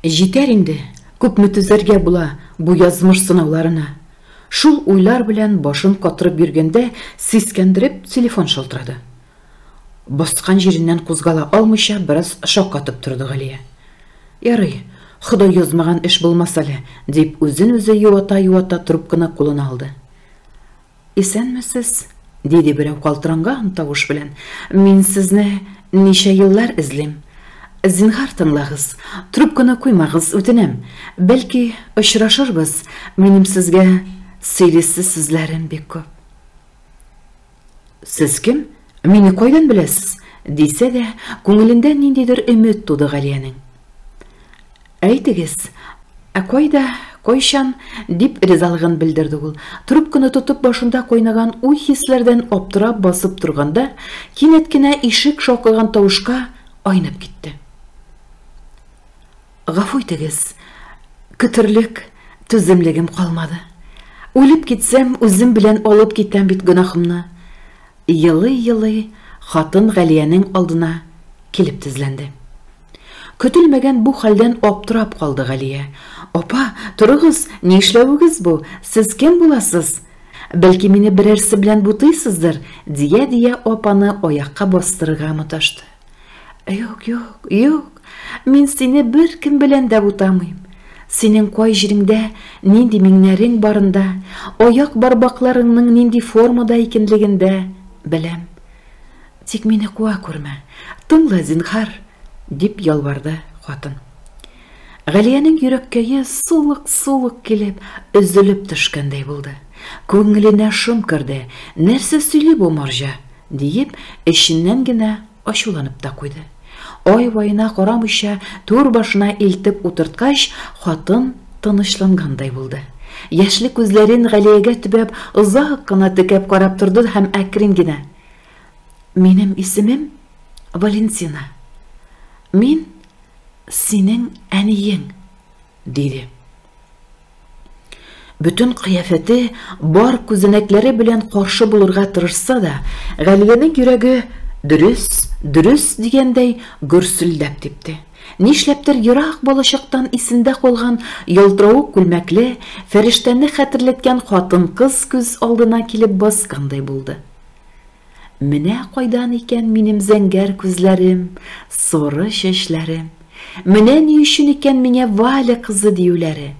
Җитәр инде, күпме түзәргә була бу язмыш сынауларына? Шул уйлар белән башын катырып йөргәндә, сискәндереп телефон шалтырады. Баскан җиреннән кузгала алмыйча бераз шаккатып торды Галия. Ярый, Ходай язмаган эш булмас әле, дип үзен-үзе юата-юата трубканы кулына алды. Исәнмесез, диде берәү калтыранган тавыш белән. Мин сезне ничә еллар эзлим. Зинһар тыңлагыз, трубканы куймагыз, үтенәм. Бәлки, очрашырбыз, минем сезгә сөйлисе сүзләрем бик күп. Сез кем? Мине кайдан беләсез? дисә дә, күңелендә ниндидер өмет туды Галиянең. Әйтегез, ә кайда, кайчан? дип ризалыгын белдерде ул. Трубканы тотып башында кайнаган уй-хисләрдән аптырап басып торганда, кинәт кенә ишек шакыган тавышка айнып китте. Гафу итегез, көтерлек түземлегем калмады. Үлеп китсәм, үзем белән алып китәм бит гөнаһымны. Елый-елый хатын Галиянең алдына килеп тезләнде. Көтелмәгән бу хәлдән аптырап калды Галия. Апа, торыгыз, ни эшләвегез бу, сез кем буласыз? Бәлки мине берәрсе белән бутыйсыздыр? дия-дия апаны аякка бастырырга маташты. Юк, юк, юк, мин сине бер кем белән дә бутамыйм. Синең кай җиреңдә нинди миңнәрең барында, аяк барбакларыңның нинди формада икенлегендә беләм. Тик мине куа күрмә, тыңла, зинхар, дип ялварды хатын. Галиянең йөрәккәе сулык-сулык килеп, өзелеп төшкәндәй булды. Күңеленә шом керде. Нәрсә сөйли бу марҗа? Диеп, эченнән генә ачуланып та куйды. Ай-ваена карамыйча, түр башына илтеп утырткач, хатын тынычлангандай булды. Яшьле күзләрен Галиягә төбәп, озак кына текәп карап торды һәм әкрен генә, Минем исемем Валентина. Мин синең әниең. Диде. Бөтен кыяфәте бар күзәнәкләре белән каршы булырга тырышса да, Галиянең йөрәге дөрес, дөрес дигәндәй гөрселдәп типте. Нишләптер ерак балачактан исендә калган ялтыравык күлмәкле, фәрештәне хәтерләткән хатын-кыз күз алдына килеп баскандай булды. Менә кайдан икән минем зәңгәр күзләрем, соры чәчләрем. Менә ни өчен икән миңа Валя кызы диюләре.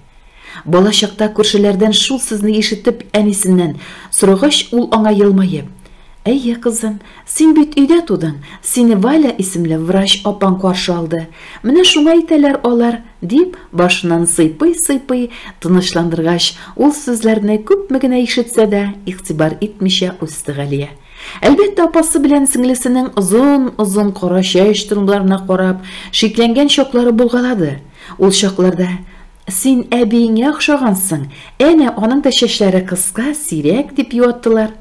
Балачакта күршеләрдән шул сүзне ишетеп, әнисеннән сорагач, ул аңа елмаеп, Әйе, кызым, син бит өйдә тудың, сине Валя исемле врач апаң каршы алды. Менә шуңа әйтәләр алар, Дип, башыннан сыйпый-сыйпый, тынычландыргач, ул сүзләрне күпме генә ишетсә дә, игътибар итмичә үсте Галия. Әлбәттә, апасы белән сеңлесенең озын-озын кара чәч турымнарына карап, шикләнгән чаклары булгалады. Ул чакларда Син әбиеңә охшагансың, әнә аның да чәчләре кыска, сирәк, дип юаттылар.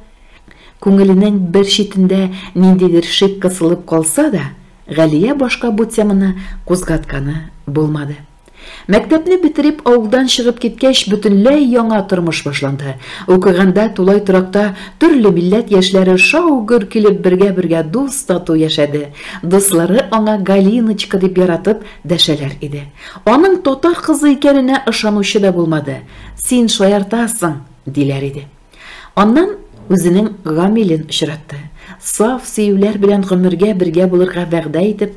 Күңеленең бер читендә ниндидер шик кысылып калса да, Галия башка бу теманы кузгатканы булмады. Мәктәпне бетереп, авылдан чыгып киткәч, бөтенләй яңа тормыш башланды. Укыганда тулай торакта төрле милләт яшьләре шау-гөр килеп бергә-бергә дус-тату яшәде. Дуслары аңа Галиночка дип яратып дәшәләр иде. Аның татар кызы икәненә ышанучы да булмады. Син шаяртасың, диләр иде. Аннан үзенең Гамилен очратты. Саф сөюләр белән гомергә бергә булырга вәгъдә итеп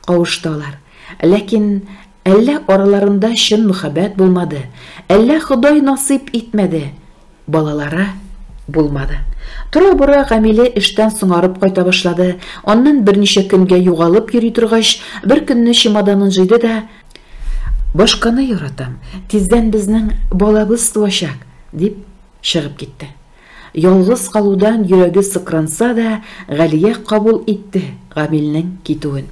кавышталар. Ләкин әллә араларында чын мөхәббәт булмады, әллә Ходай насыйп итмәде, балалары булмады. Тора-бора Гамиле эштән соңарып кайта башлады. Аннан берничә көнгә югалып йөри торгач, бер көнне чемоданын җыйды да, Башканы яратам, тиздән безнең балабыз туачак, дип чыгып китте. Ялгыз калудан йөрәге сыкранса да, Галия кабул итте Гамилнең китүен.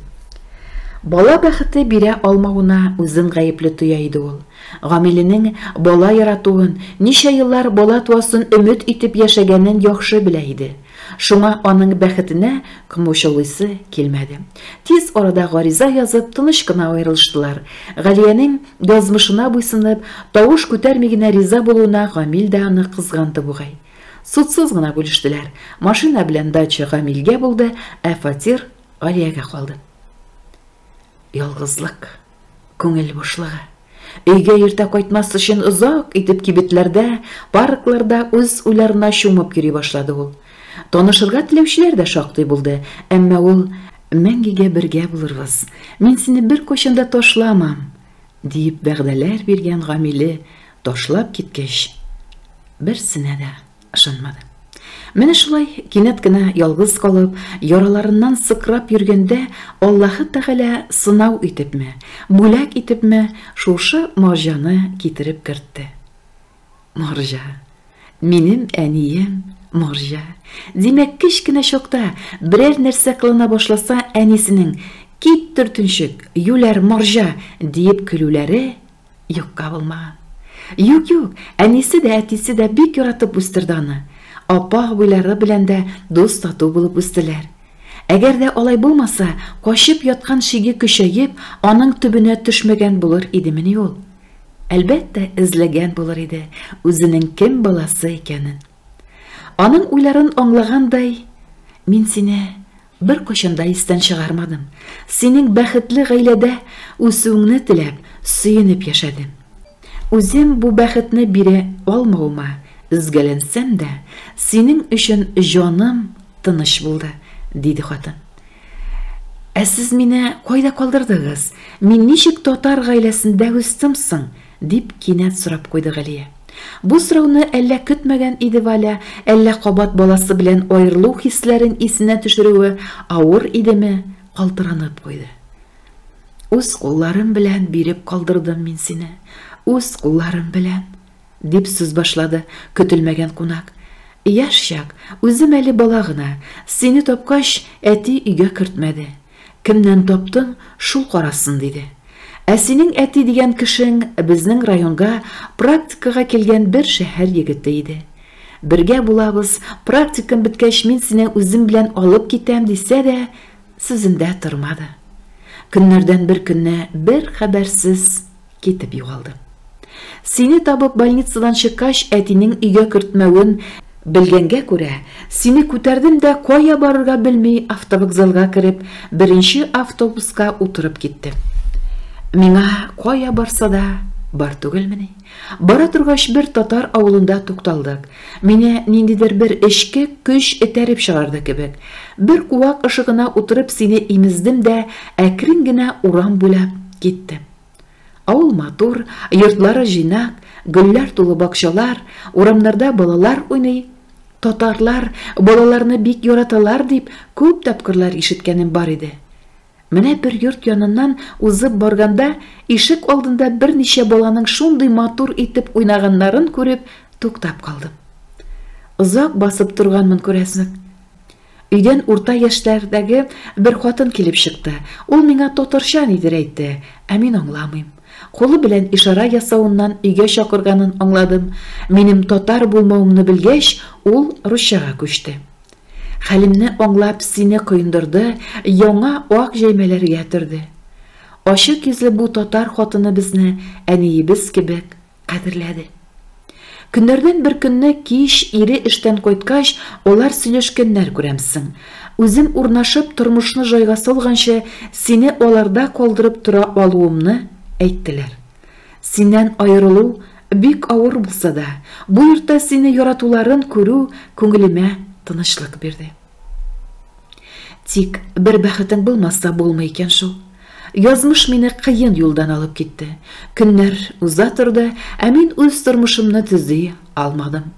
Бала бәхете бирә алмавына үзен гаепле тоя иде ул. Гамиленең бала яратуын, ничә еллар бала туасын өмет итеп яшәгәнен яхшы белә иде. Шуңа аның бәхетенә комачаулыйсы килмәде. Тиз арада гариза язып, тыныч кына аерылыштылар. Галиянең, язмышына буйсынып, тавыш күтәрми генә риза булуына Гамил дә аны кызганды бугай. Судсыз гына бүлештеләр. Машина белән дача Гамилгә булды, ә фатир Галиягә калды. Ялгызлык. Күңел бушлыгы. Өйгә иртә кайтмас өчен озак итеп кибетләрдә, паркларда үз уйларына чумып йөри башлады ул. Танышырга теләүчеләр дә шактый булды, әмма ул Мәңгегә бергә булырбыз, мин сине беркайчан да ташламам, диеп вәгъдәләр биргән Гамиле ташлап киткәч, берсенә дә. Ышанмады. Менә шулай кинәт кенә ялгыз калып, яраларыннан сыкрап йөргәндә, Аллаһы Тәгалә сынау итепме, бүләк итепме, шушы марҗаны китереп кертте. Марҗа. Минем әнием марҗа. Димәк, кечкенә чакта берәр нәрсә кылына башласа, әнисенең кит төртенчек, юләр марҗа диеп көлүләре Юкка булмаган. Юк, юк, әнисе дә, әтисе дә бик яратып үстерде аны. Апа-абыйлары белән дә дус-тату булып үстеләр. Әгәр дә алай булмаса, качып яткан шиге көчәеп, аның төбенә төшмәгән булыр идемени ул? Әлбәттә, эзләгән булыр иде үзенең кем баласы икәнен. Аның уйларын аңлагандай, мин сине Беркайчан да истән чыгармадым. Синең бәхетле гаиләдә үсүеңне теләп, сөенеп яшәдем. Үзем бу бәхетне бирә алмавыма өзгәләнсәм дә, синең өчен җаным тыныч булды, диде хатын. Ә сез мине кайда калдырдыгыз? Мин ничек татар гаиләсендә үстем соң? Дип кинәт сорап куйды Галия. Бу сорауны әллә көтмәгән иде Валя, әллә кабат баласы белән аерылу хисләрен исенә төшерүе авыр идеме, калтыранып куйды. Үз кулларым белән биреп калдырдым мин сине. Үз кулларым белән. Дип сүз башлады көтелмәгән кунак. Яшь чак, үзем әле бала гына. Сине тапкач, әти өйгә кертмәде. Кемнән таптың, шул карасын, диде. Ә синең әти дигән кешең безнең районга практикага килгән бер шәһәр егете иде. Бергә булабыз, практикам беткәч мин сине үзем белән алып китәм, дисә дә, сүзендә тормады. Көннәрдән бер көнне бер хәбәрсез Китеп югалды. Сине табып больницадан чыккач, әтинең өйгә кертмәвен белгәнгә күрә, сине күтәрдем дә кая барырга белми автовокзалга кереп, беренче автобуска утырып киттем. Миңа кая барса да бар түгелмени? Бара торгач бер татар авылында тукталдык. Мине ниндидер бер эчке көч этәреп чыгарды кебек. Бер куак ышыгына утырып сине имездем дә әкрен генә урам буйлап киттем. Авыл матур, йортлары җыйнак, гөлләр тулы бакчалар, урамнарда балалар уйный. Татарлар балаларны бик яраталар дип күп тапкырлар ишеткәнем бар иде. Менә бер йорт яныннан узып барганда, ишек алдында берничә баланың шундый матур итеп уйнаганнарын күреп, туктап калдым. Озак басып торганмын күрәсең. Өйдән урта яшьләрдәге бер хатын килеп чыкты. Ул миңа татарча нидер әйтте, ә мин аңламыйм. Кулы белән ишарә ясавыннан өйгә чакырганын аңладым. Минем татар булмавымны белгәч, ул русчага күчте. Хәлемне аңлап, сине коендырды, яңа ак җәймәләргә төрде. Ачык йөзле бу татар хатыны безне әниебез кебек Кадерләде. Көннәрдән бер көнне кич ире эштән кайткач, алар сөйләшкәннәр күрәмсең. Үзем урнашып, тормышны җайга салганчы, сине аларда калдырып тора алуымны әйттеләр. Синнән аерылу бик авыр булса да, бу йортта сине яратуларын күрү күңелемә тынычлык бирде. Тик бер бәхетең булмаса булмый икән шул. Язмыш мине кыен юлдан алып китте. Көннәр уза торды, ә мин үз тормышымны төзи алмадым.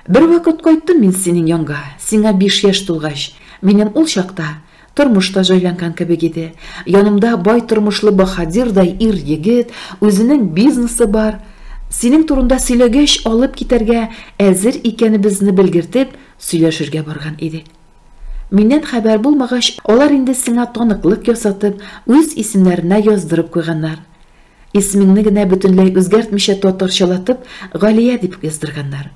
Бер вакыт кайттым мин синең янга, сиңа биш яшь тулгач. Минем ул чакта тормыш та җайланган кебек иде. Янымда бай тормышлы баһадирдай ир-егет, үзенең бизнесы бар. Синең турында сөйләгәч, алып китәргә әзер икәнебезне белгертеп, Сөйләшергә барган идек. Миннән хәбәр булмагач, алар инде сиңа таныклык ясатып, үз исемнәренә яздырып куйганнар. Исемеңне генә бөтенләй үзгәртмичә татарчалатып, Галия дип яздырганнар.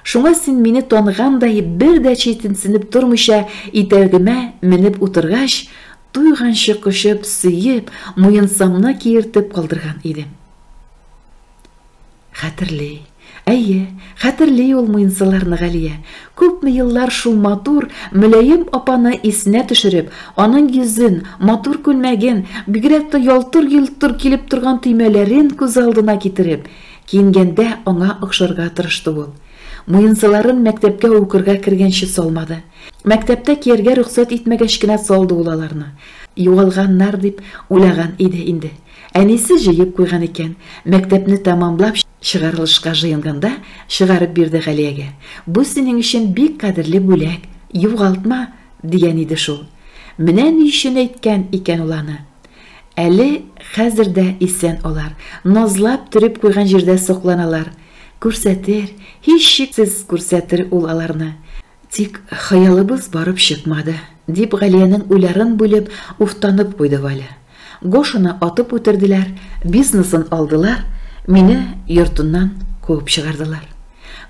Шуңа син мине таныгандай бер дә читенсенеп тормыйча итәгемә менеп утыргач, туйганчы кочып, сөеп, муенсамны киертеп калдырган идем. Хәтерли. Әйе, хәтерли ул муенсаларны Галия. Күпме еллар шул матур, мөлаем апаны исенә төшереп, аның йөзен, матур күлмәген, бигрәк тә ялтыр-йолтыр килеп торган төймәләрен күз алдына китереп, киенгәндә аңа охшарга тырышты ул. Муенсаларын мәктәпкә укырга кергәнче салмады. Мәктәптә кияргә рөхсәт итмәгәч кенә салды ул аларны. Югалганнар дип уйлаган иде инде. Әнисе җыеп куйган икән. Мәктәпне тәмамлап чыгарылышка җыенганда, чыгарып бирде Галиягә. Бу синең өчен бик кадерле бүләк, югалтма, дигән иде шул. Менә ни өчен әйткән икән ул аны. Әле хәзер дә исән алар. Назлап төреп куйган җирдә сокланалар. Күрсәтер, һичшиксез күрсәтер ул аларны. Тик хыялыбыз барып чыкмады, дип Галиянең уйларын бүлеп, уфтанып куйды Валя. Гошаны атып үтерделәр, бизнесын алдылар, мине йортыннан куып чыгардылар.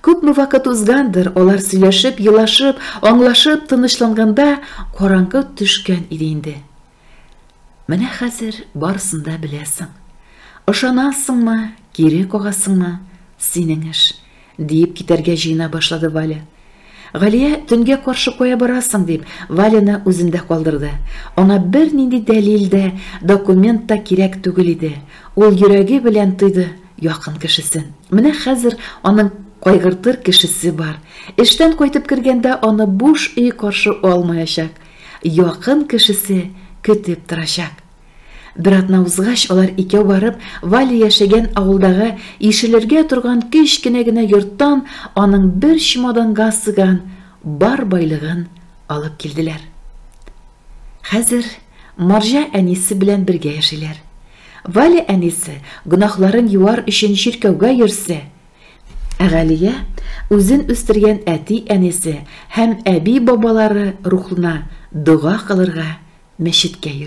Күпме вакыт узгандыр, алар сөйләшеп, елашып, аңлашып тынычланганда, караңгы төшкән иде инде. Менә хәзер барысын да беләсең. Ышанасыңмы, кире кагасыңмы, синең эш, диеп китәргә җыена башлады Валя. Галия төнгә каршы кая барасың дип, Валяны үзендә калдырды. Аңа бернинди дәлил дә, документ та кирәк түгел иде. Ул йөрәге белән тойды якын кешесен. Менә хәзер аның кайгыртыр кешесе бар. Эштән кайтып кергәндә аны буш өй каршы алмаячак. Якын кешесе көтеп торачак. Бер атна узгач, алар икәү барып, Валя яшәгән авылдагы ишелергә торган кечкенә генә йорттан аның бер чемоданга сыган бар байлыгын алып килделәр. Хәзер марҗа әнисе белән бергә яшиләр. Валя әнисе, гөнаһларын юар өчен чиркәүгә йөрсә, Галия үзен үстергән әти-әнисе һәм әби-бабалары рухына дога кылырга мәчеткә йөри.